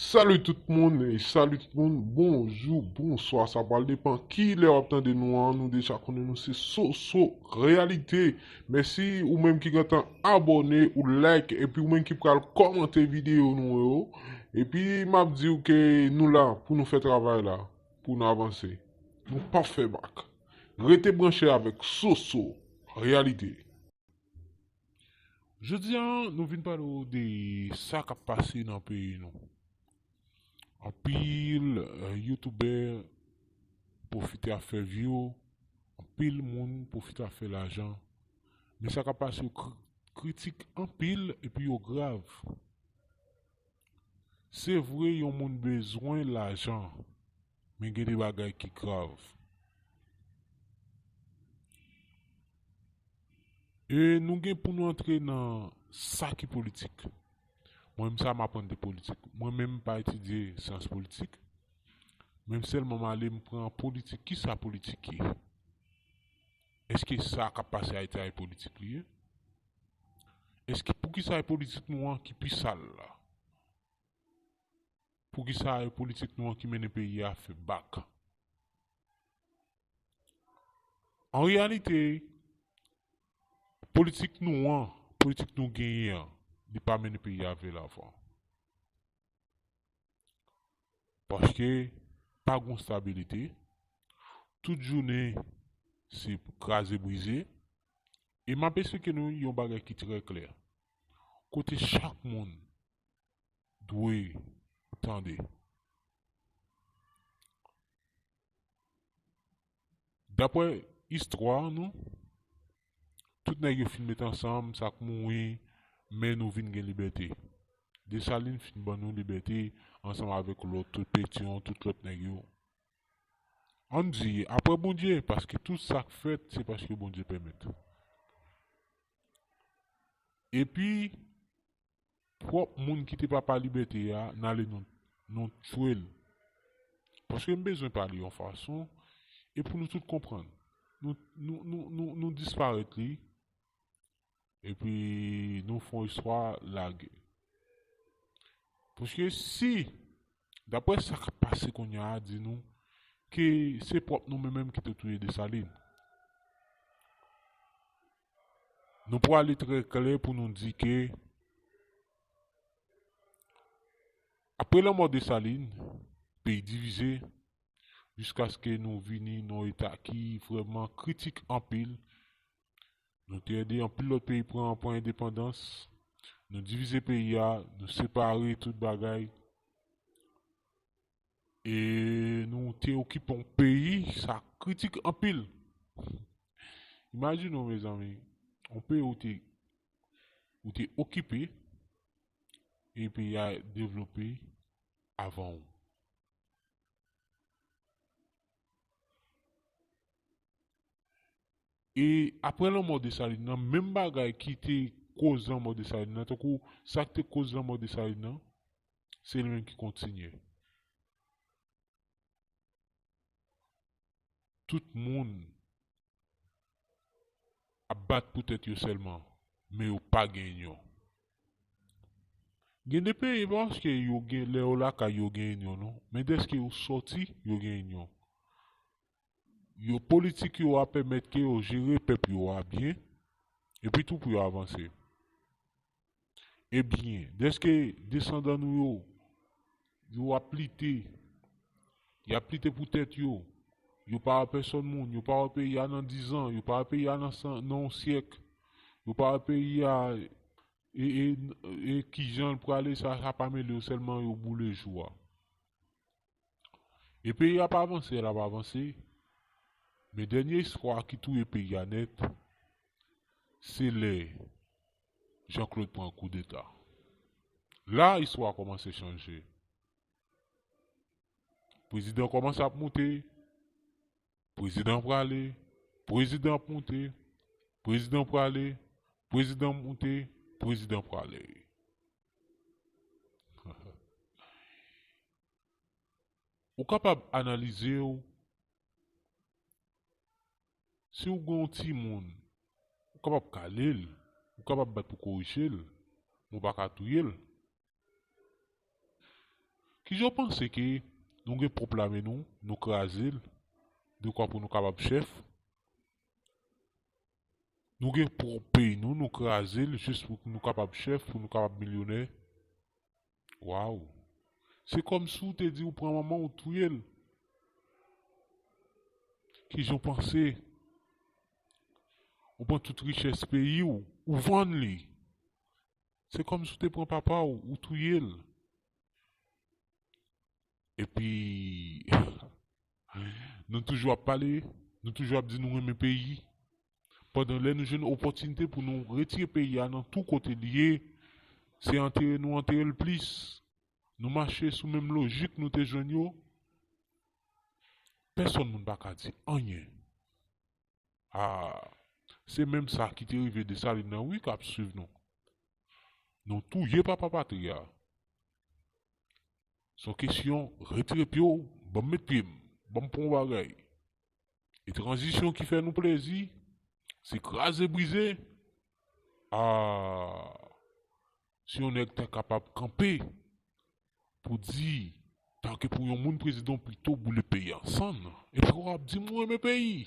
Salut tout moun e salut tout moun bonjou bonswa sa pral depan kilè wap tande nou an nou deja konnen nou se soso reyalite mèsi ou menm ki gentan abòne ou like epi ou menm ki pral kòmante videyo nou yo epi map diw ke nou la pou nou fè travay la pou nou avanse nou pap fè bak rete branche avèk soso reyalite. Jodi a nou vin pale w de sa kap pase nan peyi nou. Anpil youtubè pwofite ap fè view, anpil moun pwofite ap fè lajan. Men sa kap pase yo kritik anpil epi yo grav. Se vre yon moun bezwen lajan. Men gen de bagay ki grav. E nou gen pou nou antre nan sa ki politik. Mwen menm sa m aprann de politik. Mwen menm m pa etidye syans politik. Men m sèlman m ale m pran politik. Ki sa politik ye? Eske sa k ap pase Ayiti a e politik li ye? Eske pou ki sa e politik nou an ki pi sal la? Poukisa e politik nou an ki mennen peyi a fè bak? An reyalite, politik nou an, politik nou genyen an, li pa mennen peyi a vè lavan. Paske, pa gon stabilite, tout jounen se kraze brize, e m ap esplike nou yon bagay ki trè klè, kote chak moun dwe tande. Dapre istwa nou, tout nèg yo fin met ansanm, sa k mouri, men nou vin gen libète. Desalin fin ban nou libète ansanm avèk lòt tout Petyon, tout lòt nèg yo. An n di, apre Bondye, paske tout sa k fèt se paske Bondye pèmèt. Epi, prop moun ki te papa libète a n ale nou tchwe l paske m bezwen pale yon fason e pou nou tout konprann nou disparèt li epi nou fon istwa lage paske si daprè sa k ap pase kounya a di nou ke se prop nou menm menm ki te touye Dessalines. nou prale trè klè pou nou di ke apre lanmò Desalin, peyi divize jiskaske nou vini nan yon eta ki vrèman kritik anpil. Nou te ede anpil lòt peyi pran pran endepandans. Nou divize peyi a, nou separe tout bagay. E nou te okipe yon peyi sa kritik anpil. Imajine w mezanmi, yon peyi ou te ou te okipe e peyi a devlope avan ou. E aprè lanmò Desalin nan, menm bagay ki te koz lanmò Desalin nan, tankou sa k te koz lanmò Desalin nan, Se li menm ki kontinye. Tout moun ap bat pou tèt yo sèlman, men yo pa gen inyon. Gen de peyi, pa paske yo gen, lè yo lakay yo gen inyon non, men dèske yo sòti, yo gen inyon. Yo, politik yo a pèmèt ke yo jere pèp yo a byen, epi tou pou yo avanse. Ebyen, dèske desandan nou yo, yo ap lite, y ap lite pou tèt yo, yo pa wè pèsòn moun, yo pa wè peyi a nan dizan, yo pa wè peyi a nan yon syèk, yo pa wè peyi a e kijan l prale sa, sa pa mele yo sèlman yo boule jou a. E peyi ap avanse lap avanse men dènye espwa ki touye peyi a nèt se lè Jean Claude pran koudeta la istwa kòmanse chanje prezidan kòmanse ap moute Prezidan prale, prezidan ap moute, prezidan prale, prezidan moute, prezidan prale. Ou kapab analize w, si w gen yon timoun, ou kapab kale l, ou kapab bat pou korije l, men w pa ka touye l. Kijan w panse ke nou gen pwòp lame nou, nou kraze l dekwa pou nou kapab chèf? Nou gen pwòp peyi nou, nou kraze l jis pou nou kapab chèf, pou nou kapab milyonè? Waw! Se kòmsi w te di w pran manman w ou touye l. Kijan w panse ou pran tout richès peyi w, ou vann li? Se kòmsi ou te pran papa w, ou touye l. Epi, nou toujou ap pale, nou toujou ap di nou renmen peyi, pandan lè nou jwenn opòtinite pou nou retire peyi a nan tou kote li ye, se antere nou antere l plis. Nou mache sou menm lojik nou te jwenn yo. Pèsòn moun pa ka di anyen. Ah se menm sa ki te rive Dessalines nan wi kap swiv nou. Nou touye papa patri a. Son kesyon retire pye w banm met pye m, banm pran w bagay. E tranzisyon ki fè nou plezi se kraze brize? Ah Si yon nèg ta kapab kanpe pou di ta ke pou yon moun prezidan pito boule peyi an sann epi ou ap di m ou renmen peyi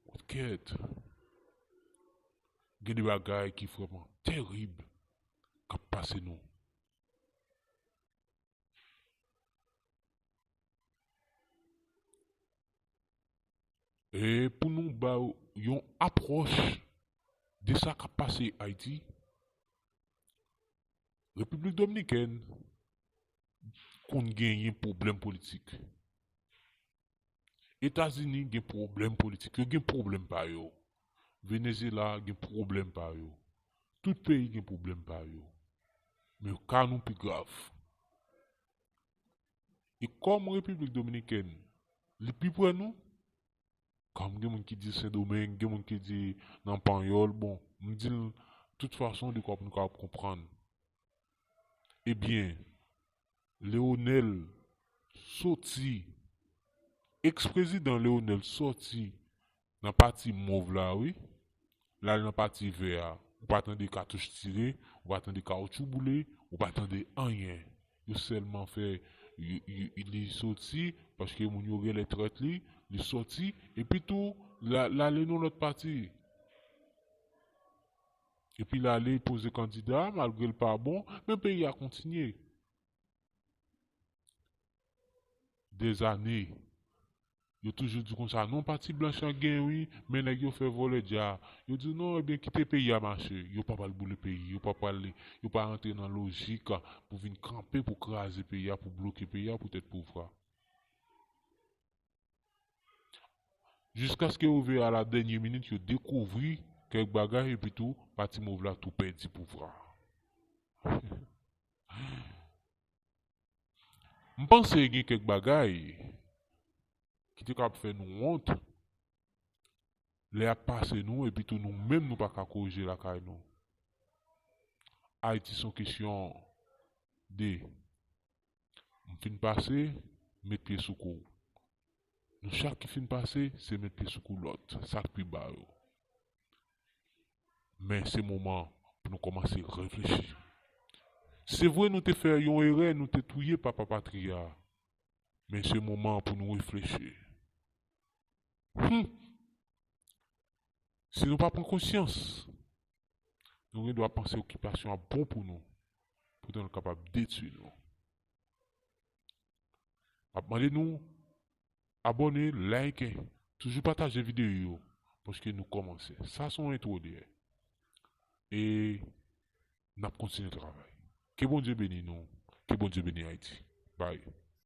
ou t kèt gen de bagay ki vrèman tèrib kap pase nou. Pou nou ba ou yon apwòch de sa k ap pase Ayiti, Repiblik Dominikèn konn genyen pwoblèm politik. Etazini gen pwoblèm politik, yo gen pwoblèm pa yo. Venezyela gen pwoblèm pa yo. Tout peyi gen pwoblèm pa yo. Men ka nou pi grav. E kòm Repiblik Dominikèn li pi pre nou, kòm gen moun ki di Sendomeng, gen moun ki di nan panyòl, bon, m di l tout fason li kapab nou kapab konprann. Ebyen, Leonel soti, ex-prezidan Leonel soti Nan pati mov la wi. Lal nan pati vè a. Ou pa tande katouch tire, ou pa tande kawoutchou boule, ou pa tande anyen. Yo sèlman fè li soti paske moun yo genlè trèt li, li soti epi tou lale nan lòt pati. Epi lale poze kandida malgre l pa bon men peyi a kontinye. Des années Yo toujou di konsa non pati blanch lan gen wi men nèg yo fè vòlè dja yo di non ebyen kite peyi a mache yo pa pral boule peyi yo pa pral yo pa rantre nan lojik pou vin kanpe pou kraze peyi a pou bloke peyi a pou tèt pouvra jiskaske yo rive a la dènye minit yo dekouvri kèk bagay epitou pati mov la tou pèdi pouvra. M panse gen kèk bagay ki te kab fè nou wont lè y ap pase nou epitou nou menm nou pa ka korije lakay nou. Ayiti se yon kesyon de m fin pase, m met pye sou kou w. Nou chak ki fin pase se met pye sou kou lòt sak pi ba yo. Men se moman pou nou kòmanse reflechi. Se vre nou te fè yon erè nou te touye papa patri a men se moman pou nou reflechi. Humm! Si nou pa pran konsyans nou gen dwa panse okipasyon ap bon pou nou poutan l kapab detui nou. Map mande nou Abòne like toujou pataje videyo yo paske nou kòmanse sa son entwo dèyè e nap kontinye travay ke Bondye beni nou ke Bondye beni Ayiti bye.